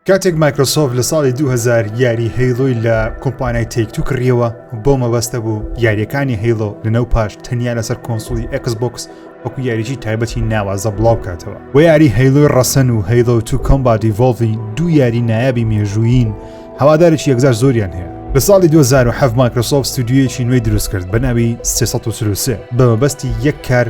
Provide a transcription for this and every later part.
کاتێک مایکرۆسۆفت لە ساڵی 2000 یاری هەیڵۆی لە کۆمپانای تێکتو کڕیەوە بۆ مەبەستە بوو یاریەکانی هەیڵۆ لەنەو پاش تەنیا لەسەر کۆنسولی ئەکس بۆکس وەکو یاریی تایبەتی ناوازە بڵاو کاتەوە و یاری هەیلوی ڕەسەن و هەیلو تو کۆمبادی ڤۆڵڤی دوو یاری نایابی مێژووین هەوادارێکی یەکجار زۆریان هەیە لە ساڵی 2007 مایکرۆسۆف ستودیویەکی نوێی دروست کرد بە ناوی 333 بە مەبەستی یەک کار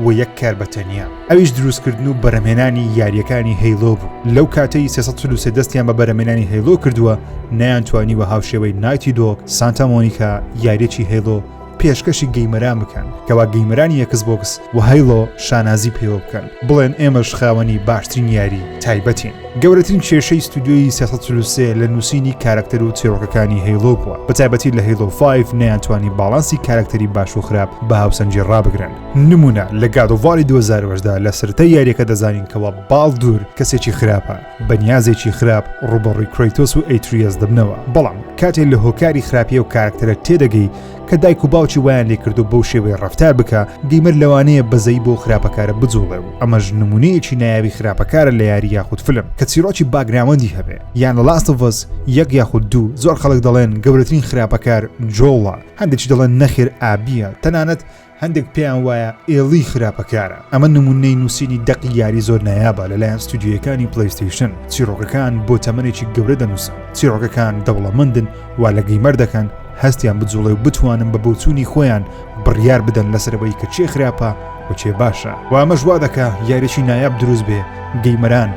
و یەک کار بە تەنیا ئەویش دروستکردن و بەرەمێنانی یاریەکانی هەیلۆ بوو لەو کاتەی سێسەسە دەستیان بە بەرەمێنانی هەیلۆ کردووە نیان توانی وە هاوشێوەی نایتی دۆک سانتا مۆنیکا یاریەکی هەیلۆ پێشکەشی گەیمەران بکەن کەوا گەیمەرانی یەکس بۆکس و هەیلۆ شانازی پێوە بکەن بڵێن ئێمەش خاوەنی باشترین یاری تایبەتین. گەورەترین کێشەی ستودیۆی سێ سەد و چل و سێ لە نووسینی کارەکتەر و چیڕۆکەکانی هەیڵۆ بووە بە تایبەتی لە هەیڵۆ فایڤ نەیانتوانی باڵانسی کارەکتەری باش و خراپ بە هاوسەنگی ڕابگرن نموونە لە گاد ئۆف واری دوو هەزار و هەژدە لە سەرەتای یارییەکە دەزانین کەوا باڵدور کەسێکی خراپە بەنیازێکی خراپ ڕووبەڕووی کرەیتۆس و ئەیتریەس دەبنەوە بەڵام کاتێ لە هۆکاری خراپی ئەو کارەکتەرە تێدەگەی کە دایک و باوکی وایان لێکردو بەو شێوەی ڕفتار بکە گەیمەر لەوانەیە بەزەی بۆ خراپەکارە بجوڵێ و ئەمەش نمونەیەکی نایابی خراپەکارە لە یاری یاخود فلم کە چیرۆکی باگراوەندی هەبێ یان لە لاستڤز یەک یاخود دوو زۆر خەڵک دەڵێن گەورەترین خراپەکار جۆڵە هەندێکی دەڵێن نەخێر ئابیە تەنانەت هەندێک پێیان وایە ئێڵی خراپەکارە ئەمە نمونەی نووسینی دەقی یاری زۆر نایابە لەلایەن ستودیویەکانی پلیستیشن چیرۆکەکان بۆ تەمەێکی گەورە دەنووسن چیرۆکەکان دەوڵەمەندن وا لە گەیمەر دەکەن هەستیان بجوڵێ و بتوانن بە بۆچوونی خۆیان بڕیار بدەن لەسەرەوەی کە چێ خراپە و چێ باشە وامەش وا دەکە یاریی نایاب دروست بێ گەیمەران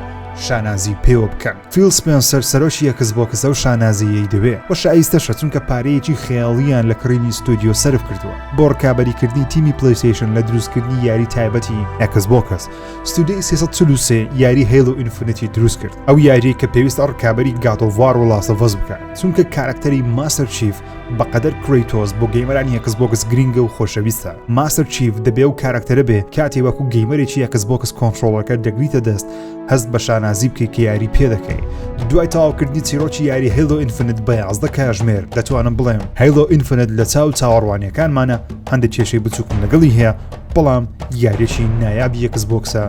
شانازی پێوە بکەن. فیل سپێنسەر سەرۆکی ئێکس بۆکس ئەو شانازییەی دەوێت و شایستەشە چونکە پارەیەکی خەیاڵییان لە کڕینی ستۆدیۆ سەرف کردووە بۆ ڕکابەریکردنی تیمی پلەیستەیشن لە دروستکردنی یاری تایبەتی ئێکس بۆکس ستۆدیۆی 343 یاری هەیڵ و ئینفنیتی دروست کرد ئەو یاریەی کە پێویستە ڕکابەری گاتۆڤار و لاسەڤەز بکات چونکە کارەکتەری ماستەر چیف بەقەدەر کرەیتۆز بۆ گەیمەرانی ئێکس بۆکس گرنگە و خۆشەویستە ماستەر چیف دەبێ و کارەکتەرە بێ کاتی وەکو گەیمەرێکی ئێکس بۆکس کۆنتترۆڵەکە دەگریتە دەست هەست بە شانازی بکەیت کە یاری پێ دەکەین دوای تاواکردنی چیرۆکی یاری هەیلۆ ئینفنت بە یازدە کاژمێر دەتوانم بڵێم هەیلۆ ئینفنت لە چاو چاوەڕوانیەکانمانە هەندێک کێشەی بچووکم لەگەڵی هەیە بەڵام یاریێکی نایاب یەکس بۆکسە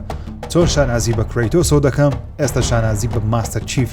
تۆ شانازی بە کرێتۆسۆ دەکەم ئێستا شانازی بە ماستەر چیف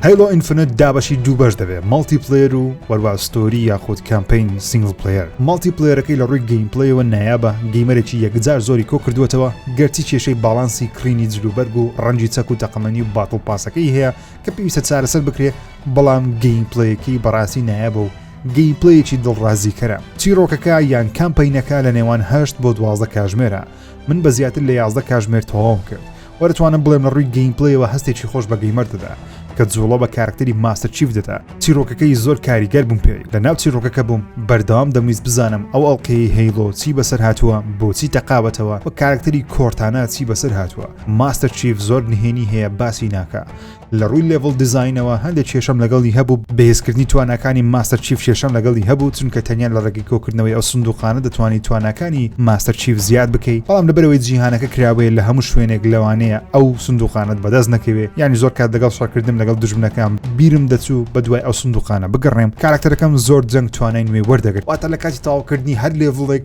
هەیڵۆ ئینفنت دابەشی دوو بەش دەبێت مەڵتی پلێر و وەروا ستۆری یاخود کامپین سنگل پلێر مەڵتی پلێرەکەی لە ڕووی گەیم پلەیەوە نایابە گەیمەرێکی یەکجار زۆری کۆ کردوێتەوە گەرچی کێشەی باڵانسی کڕینی جلوبەرگ و ڕەنجی چەک و تەقەمەنی و باتڵ پاسەکەی هەیە کە پێویستە چارەسەر بکرێ بەڵام گەیم پلەیەکی بەڕاستی نایابە و گەیمپلەیەکی دڵڕازیکەرە چیرۆکەکە یان کامپینەکە لە نێوان هەشت بۆ دوازدە کاژمێرە من بە زیاتر لە یازدە کاژمێر تەواوم کرد وەرتوانم بڵێم لە ڕووی گەین پلەیەوە هەستێکی خۆش بە گەیمەر دەدا کە جوڵە بە کارکتەری ماستەر چیف دەدا چیرۆکەکەی زۆر کاریگەر بووم پێی لە ناو چیرۆکەکە بووم بەردەوام دەمویست بزانم ئەو ئەڵلقەیە هەیڵۆ چی بەسەر هاتووە بۆچی تەقاوەتەوە و کارکتەری کۆرتانە چی بەسەر هاتووە ماستەر چیف زۆر نهێنی هەیە باسی ناکە لە ڕووی لێڤڵ دیزاینەوە هەندێک کێشەم لەگەڵی هەبوو بەهێزکردنی تواناکانی ماستەر چیف کێشەم لەگەڵی هەبوو چونکە تەنیا لە ڕێگەی کۆکردنەوەی ئەو سندوقانە دەتوانانی تواناکانی ماستەر چیف زیاد بکەی بەڵام لەبەرەوەی جیهانەکە کراوەیە لە هەموو شوێنێک لەوانەیە ئەو سندوقانت بەدەست نەکەوێ ینی زۆر کات دەگەڵ شەڕکردن لەگەڵ دژمنەکان بیرم دەچوو بە دوای ئەو سندوقانە بگەڕێم کارکتەرەکەم زۆر جەنگ توانای نوێ وەردەگرت واتە لە کاتی تاوکردنی هەر لێڤڵێک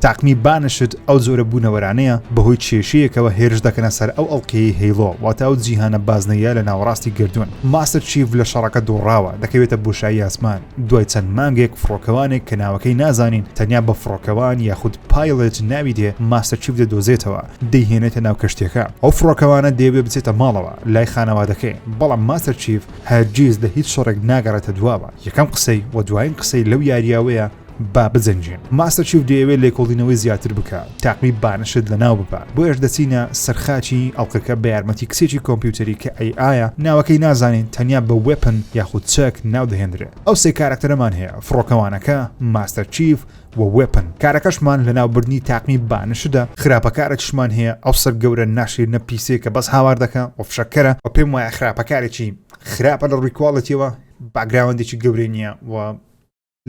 تاقمی بانشت ئەو جۆرە بوونەوەرانەیە بەهۆی کێشەیەکەوە هێرش دەکەنە سەر ئەو ئەڵقەیەی هەیڵۆ واتە ئەو جیهانە بازنەیە لە ناوەڕاستی گەردوون ماستەر چیڤ لە شەڕەکە دۆڕاوە دەکەوێتە بۆشایی ئاسمان دوای چەند مانگێک فڕۆکەوانێک کە ناوەکەی نازانین تەنیا بە فڕۆکەوان یاخود پایڵێت ناوی دێ ماستەر چیڤ دەدۆزێتەوە دەیهێنێتە ناو کەشتیەکە ئەو فڕۆکەوانە دەیەوێ بچێتە ماڵەوە لای خانەوادەکەی بەڵام ماستەر چیڤ هەرگیز لە هیچ شەڕێک ناگەڕێتە دواوە یەکەم قسەی و دوایین قسەی لەو یارییەوەیە با بجەنگین ماستەر چیف دەیەوێت لێکۆڵینەوەی زیاتر بکە تاقمی بانشت لە ناو ببە بۆ ئێش دەچینە سەرخاچی ئەڵلقەکە بە یارمەتی کچێکی کۆمپیوتەری کە ئەی ئایا ناوەکەی نازانین تەنیا بە وێپن یاخود چەک ناو دەهێنرێت ئەو سێ کارکتەرەمان هەیە فڕۆکەوانەکە ماستەر چیف و وێپن کارەکەشمان لە ناوبردنی تاقمی بانشدا خراپەکارەکیشمان هەیە ئەو سەر گەورە ناشیر نە پیسێ کە بەس هاوار دەکە و فشەکەرە و پێم وایە خراپەکارێکی خراپە لە ڕووی کوواڵەتیەوە باگراوەندێکی گەورەی نییە و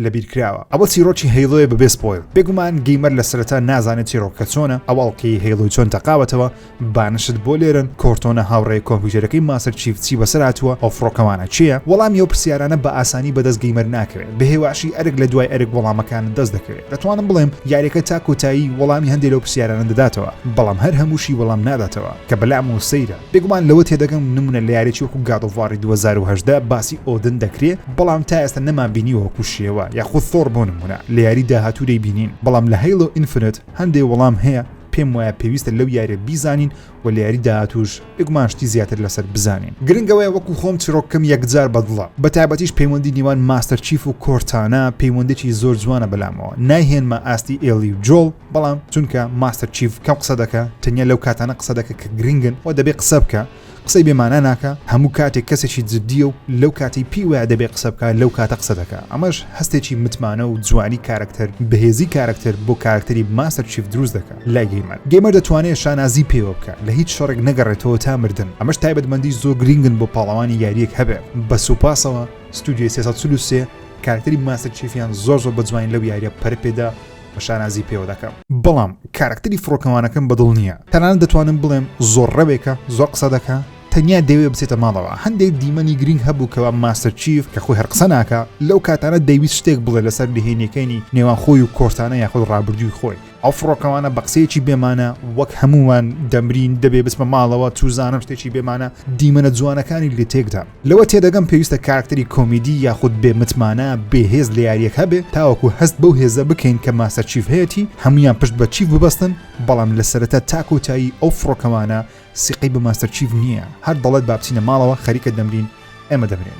لەبیر کراوە ئەوە چیرۆکی هەیڵۆیە بەبێ سپۆیڵ بێگومان گەیمەر لە سەرەتا نازانێت چیرۆکەکە چۆنە ئەو ئەڵقەی هەیڵۆی چۆن تەقاوەتەوە بانشت بۆ لێرن کۆرتۆنە هاوڕێ کۆمپیوتەرەکەی ماستەر چیف چی بەسەر هاتووە ئەو فڕۆکەوانە چییە وەڵامی ئەو پرسیارانە بە ئاسانی بەدەست گەیمەر ناکەوێت بەهێواشی ئەرک لە دوای ئەرک وەڵامەکانت دەست دەکەوێت دەتوانم بڵێم یاریەکە تا کۆتایی وەڵامی هەندێک لەو پرسیارانە دەداتەوە بەڵام هەر هەمووشی وەڵام ناداتەوە کە بەلامەوە سەیرە بێگومان لەوە تێدەگەم نمونە لە یاریەکی وەکو گاد ئۆف واری دوو هەزار و هەژدە باسی ئۆدن دەکرێ بەڵام تا ئێستا نەمان بینیوە وەکو شێوا یاخود ثۆر بۆ نمونە لە یاری داهاتوو دەیبینین بەڵام لە هەیڵۆ ئینفنت هەندێ وەڵام هەیە پێم وایە پێویستە لەو یاریە بیزانین و لە یاری داهاتووش بێگومان شتی زیاتر لەسەر بزانین گرنگەوەیە وەکو خۆم چیرۆکەکەم یەکجار بەدڵە بە تایبەتیش پەیوەندی نێوان ماستەر چیف و کۆرتانا پەیوەندێکی زۆر جوانە بەلامەوە نایهێنمە ئاستی ئێڵی و جۆڵ بەڵام چونکە ماستەر چیف کەم قسە دەکە تەنیا لەو کاتانە قسە دەکە کە گرنگن و دەبێ قسە بکە قسەی بێمانە ناکە هەموو کاتێک کەسێکی جددیە و لەو کاتی پێی وایە دەبێ قسە بکە لەو کاتە قسە دەکە ئەمەش هەستێکی متمانە و جوانی کارکتەر بەهێزی کارکتەر بۆ کارکتەری ماستەر چیف دروست دەکە لای گەیمەر گەیمەر دەتوانێت شانازی پێوە بکە لە هیچ شەڕێک نەگەڕێتەوە تا مردن ئەمەش تایبەتمەندی زۆر گرنگن بۆ پاڵەوانی یاریەک هەبێ بە سوپاسەوە ستودیۆی 323 کارکتەری ماستەر چیفیان زۆر زۆر بە جوانی لەو یاریە پەرپێدا و شانازی پێوە دەکەم. بەڵام کارەکتەری فڕۆکەوانەکەم بەدڵ نییە. تەنانەت دەتوانم بڵێم زۆر ڕەوێکە، زۆر قسە دەکا، تەنیا دەیەوێ بچێتە ماڵەوە. هەندێک دیمەنی گرینگ هەبوو کەوا ماستەر چیف، کە خۆی هەر قسە ناکا، لەو کاتانە دەیویست شتێک بڵێ لەسەر نهێنییەکەینی نێوان خۆی و کۆرتانا یاخود ڕابردووی خۆی. ئەو فڕۆکەوانە بە قسەیەکی بێ مانا وەک هەمووان دەمرین، دەبێ بچمە ماڵەوە، چوزانم شتێکی بێ مانا دیمەنە جوانەکانی لێ تێکدا. لەوە تێدەگەم پێویستە کارکتەری کۆمیدی یاخود بێ متمانە بێهێز لە یاریەک هەبێ تاوەکو هەست بەو هێزە بکەین کە ماستەر چیف هەیەتی هەمویان پشت بە چیف ببەستن بەڵام لە سەرەتا تا کۆتایی ئەو فڕۆکەوانە سیقەی بە ماستەر چیف نییە هەر دەڵێت با بچینە ماڵەوە خەریکە دەمرین ئێمە دەمرێن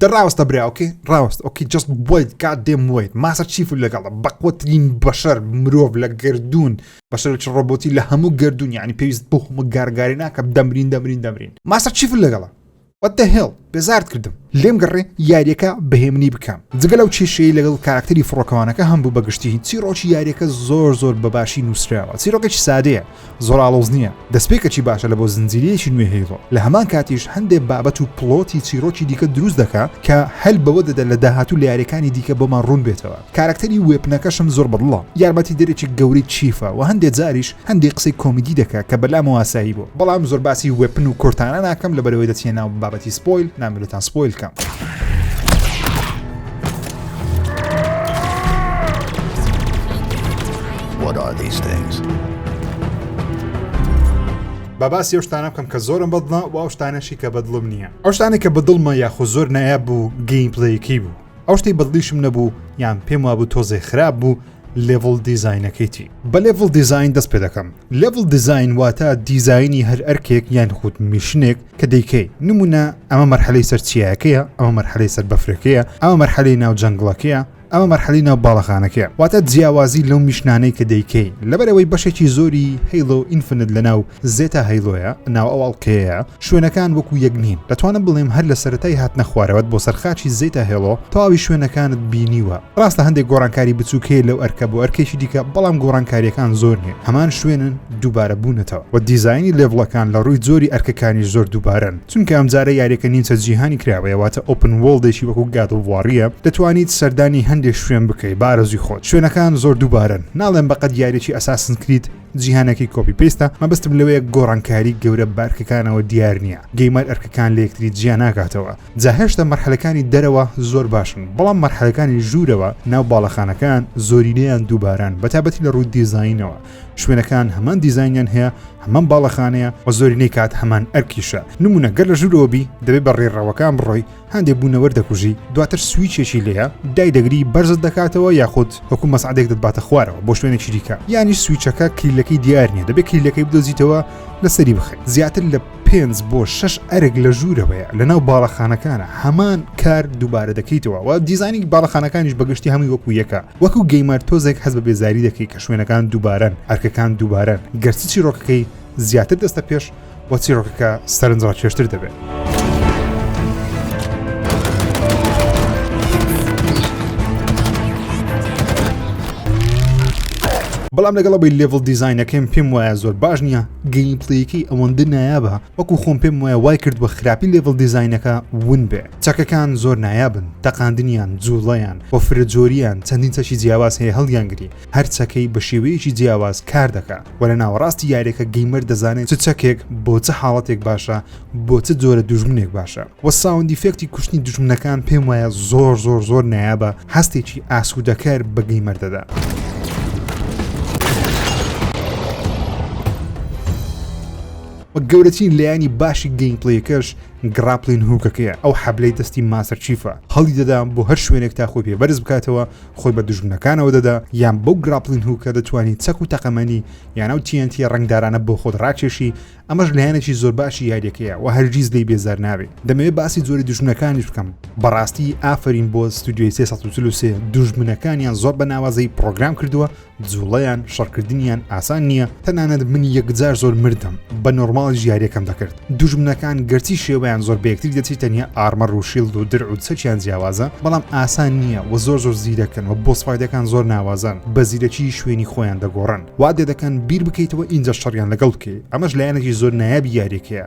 دە ڕاوەستە برا ئۆکەی ڕاوەست ئۆکی جەست بۆیت کات دێم ویت ماسە چیف و لەگەڵە بەقوترین بەشەر مرۆڤ لە گردردون بەشەرچ ڕۆبۆتی لە هەموو گردردون یعنی پێویست بۆ هەموو گارگاری ناکەم دەمرین دەمرین دەمرین ماسە چیف لەگەڵە What the hell بێزارت کردم لێم گەڕێ یاریەکە بەهێمنی بکەم جگە لەو کێشەی لەگەڵ کاراکتەری فڕۆکەوانەکە هەم بوو بەگشتی چیڕۆکی یاریەکە زۆر زۆر بەباشی نووسراوە چیرۆکێکی سادەیە زۆراڵۆز نییە دەستپێکەکی باشە لە بۆ زنجیرەیەکی نوێ هەیڵۆ لە هەمان کاتیش هەندێک بابەت و پڵۆتی چیرۆکی دیکە دروست دەکا کە هەل بەوە دەدە لە داهاتوو لە یاریەکانی دیکە بۆمان ڕوون بێتەوە کارەکتەری وێپنەکەشم زۆر بەدڵە یارمەتی دەرێکی گەورەی چیفە وە هەندێ جاریش هەندێ قسەی کۆمیدی دەکا کە بەلامەوە ئاسایی بوە بەڵام زۆر باسی وێپن و کۆرتانا ناکەم لەبەرەوەی دەچیە ناو بابەتی سپۆیل نامەوێ لێتان سپۆیل کەم. با باسی ئەو شتانە بکەم کە زۆرم بەدڵە و ئەو شتانەشی کە بەدڵم نییە ئەو شتانێک کە بەدڵمە یاخۆ زۆر نایاب بوو گەیم پلەیەکەی بوو ئەو شتەی بەدڵیشم نەبوو یان پێم وابوو تۆزێ خراپ بوو لێڤڵ دیزینەکەیتی بە لێڤڵ دیزین دەست پێ دەکەم لێڤڵ دیزین واتە دیزایانی هەر ئەرکێک یان خود میشنێک کە دەیکەی نمونە ئەمە مەرحەلەی سەر چیایەکەیە ئەمە مەرحەلەی سەر بەفرەکەیە ئەمە مەرحەلەی ناو جەنگڵەکەیە ئەمە مەرحەلی ناو باڵەخانەکە واتە جیاوازی لەو میشنانەی کە دەیکەی لەبەرەوەی بەشێکی زۆری هەیڵۆ ئینفنت لە ناو زێتا هەیلۆیە ناو ئەو ئەڵقەیەیە شوێنەکان وەکو یەک نین دەتوانم بڵێم هەر لە سەرەتای هاتنە خوارەوەت بۆ سەرخاچی زێتا هێڵۆ تەواوی شوێنەکانت بینیوە ڕاستە هەندێک گۆڕانکاری بچووکەیە لەو ئەرکە بۆ ئەرکێکی دیکە بەڵام گۆڕانکاریەکان زۆر نیە هەمان شوێنن دووبارە بوونەتەوە و دیزایانی لێڤڵەکان لە ڕووی زۆری ئەرکەکانی زۆر دووبارەن چونکە ئەمجارە یاریەکە نیمچە جیهانی کراوەیە واتە ئۆپن وڵدێکی وەکو گادڵواڕیە دەتوانیت سەردانی هەندێک شوێن بکەیت بارەزوی خۆت شوێنەکان زۆر دووبارەن ناڵێن بەقەد یاریی ئەساسن کریت جیهانەکەی کۆپی پێستە مەبستم لەوەیە گۆڕانکاری گەورە بارکەکانەوە دیار نییە گەیمەر ئەرکەکان لە یەکتری جیا ناکاتەوە جا هێشتا مەرحەلەکانی دەرەوە زۆر باشن بەڵام مەرحەلەکانی ژوورەوە ناو باڵەخانەکان زۆرینەیان دووباران بەتابەتی لە ڕووی دیزینەوە شوێنەکان هەمان دیزینیان هەیە هەمان باڵەخانەیە و زۆرینەی کات هەمان ئەرکیشە نمونە گەر لە ژوورەوە بی دەبێت بە ڕێڕەوەکان بڕۆی هەندێک بوونەوەر دەکوژی دواتر سویچێکی لێە دایدەگری بەرزت دەکاتەوە یاخود وەکو مەسعادێک دەباتە خوارەوە بۆ شوێنێکی دیکە یانی سویچەکە کلیلەکەی دیار نیە دەبێت کلیلەکەی بدۆزیتەوە لەسەری بخێت زیاتر لە پێنج بۆ شش ئەرگ لە ژوورەوەیە لەناو باڵەخانەکانە هەمان کار دووبارە دەکەیتەوە و دیزانی باڵەخانەکانیش بەگشتی هەمووی وەکو یەکە وەکو گەیمەر تۆزێک هەز بە بێزاری دەکەی کە شوێنەکان دووبارەن ئەرکەکان دووبارەن گەرچی چیرۆکەکەی زیاتر دەستە پێش بۆ چیرۆکەکە سەرنج ڕاکێشتر دەبێت. بەڵام لەگەڵە بی لێڤڵ دیزینەکەم پێم وایە زۆر باش نییە گەیم پلیکی ئەوەندە نایابە وەکو خۆم پێم وایە وای کرد بە خراپی لێڤڵ دیزینەکە ون بێ چەکەکان زۆر نایابن تەقاندنیان جوڵیان بۆ فرە جۆریان چەندین چەشی جیاواز هەیە هەڵیانگری هەر چەکەی بە شێوەیەکی جیاواز کار دەکا وە لە ناوەڕاستی یاریەکە گەیمەر دەزانێت چ چەکێک بۆ چە حاڵەتێک باشە بۆ چ جۆرە دوژمنێک باشە وە ساوندی فێکتی کوشتنی دوژمنەکان پێم وایە زۆر زۆر زۆر نایابە هەستێکی ئاسوودەکەر بە گەیمەر دەدا. و گەورەترین لایانی باشی گەیمپلیەکەش گراپلین هوکەکەیە ئەو حەبلەی دەستی ماسەر چیفە هەڵی دەدام بۆ هەر شوێنێک تا خۆی پێ بەرز بکاتەوە خۆی بە دوژمنەکانەوە دەدا یان بەو گراپلین هوکە دەتوانی چەک و تەقەمەنی یان ئەو تیەنتیە ڕنگدارانە بۆ خۆت ڕاکێشی ئەمەش لایەنێکی زۆر باشی یاریەکەیە و هەرگیز لێی بێزار نابێ دەمەوێت باسی جۆری دوژمنەکانیش بکەم بەڕاستی ئافرین بۆ ستودیۆی 343 دوژمنەکانیان زۆر بە ناوازەی پرۆگرام کردووە جوڵەیان شەڕکردنیان ئاسان نییە تەنانەت من یەکجار زۆر مردم بە نۆرماڵیش یاریەکەم دەکرد دوژمنەکان گەرچی شێوەیان زۆر بەیەکتری دەچی تەنیا ئارمە ڕوشیل و درع و چەکیان جیاوازە بەڵام ئاسان نییە و زۆر زۆر زیرەکن و بۆ سپایدەکان زۆر ناوازان بە زیرەکی شوێنی خۆیان دەگۆڕن وادێ دەکەن بیر بکەیتەوە ئینجا شەڕیان لەگەڵ بکەی ئەمەش لایەنێکی زۆر نایابی یاریەکەیە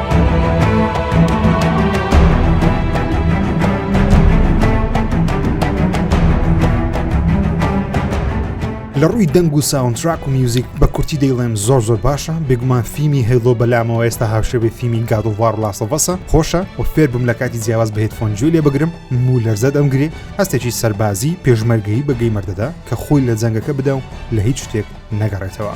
لە ڕووی دەنگ و ساونتراک و میوزیک بە کورتی دەیڵێم زۆر زۆر باشە بێگومان فیمی هەیڵۆ بەلامەوە ئێستا هاوشێبێ فیمی گادووار لاسەڤەسە خۆشە و فێر بم لە کاتی جیاواز بەهێت فۆنجوی لێ بگرم مو لەرزە دەمگرێ هەستێکی سەربازی پێشمەرگەی بەگەی مردەدا کە خۆی لە جەنگەکە بدا و لە هیچ شتێک نەگەڕێتەوە.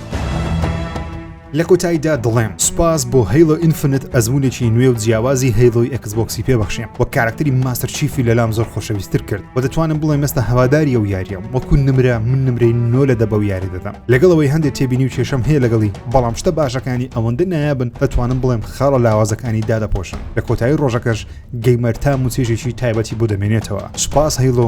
لە کۆتاییدا دەڵێم سوپاس بۆ هەیڵۆ ئینفنت ئەزمونێکی نوێ و جیاوازی هەیڵۆی ئەکسبۆکسی پێبەخشیم وە کارەکتەری ماستەر چیفی لەلام زۆر خۆشەویستر کرد و دەتوانم بڵێم مێستا هەواداری ئەو یاریەم وەکو نمرە من نمرەی نۆ لە دە بەو یارە دەدەم لەگەڵ ئەوەی هەندێ تێبینی و کێشەم هەیە لەگەڵی بەڵام شتە باشەکانی ئەوەندە نایابن دەتوانم بڵێم خاڵە لاوازەکانی دادەپۆشن لە کۆتایی ڕۆژەکەش گەیمەر تام و چێژێکی تایبەتی بۆ دەمێنێتەوە سوپاس هەیڵۆ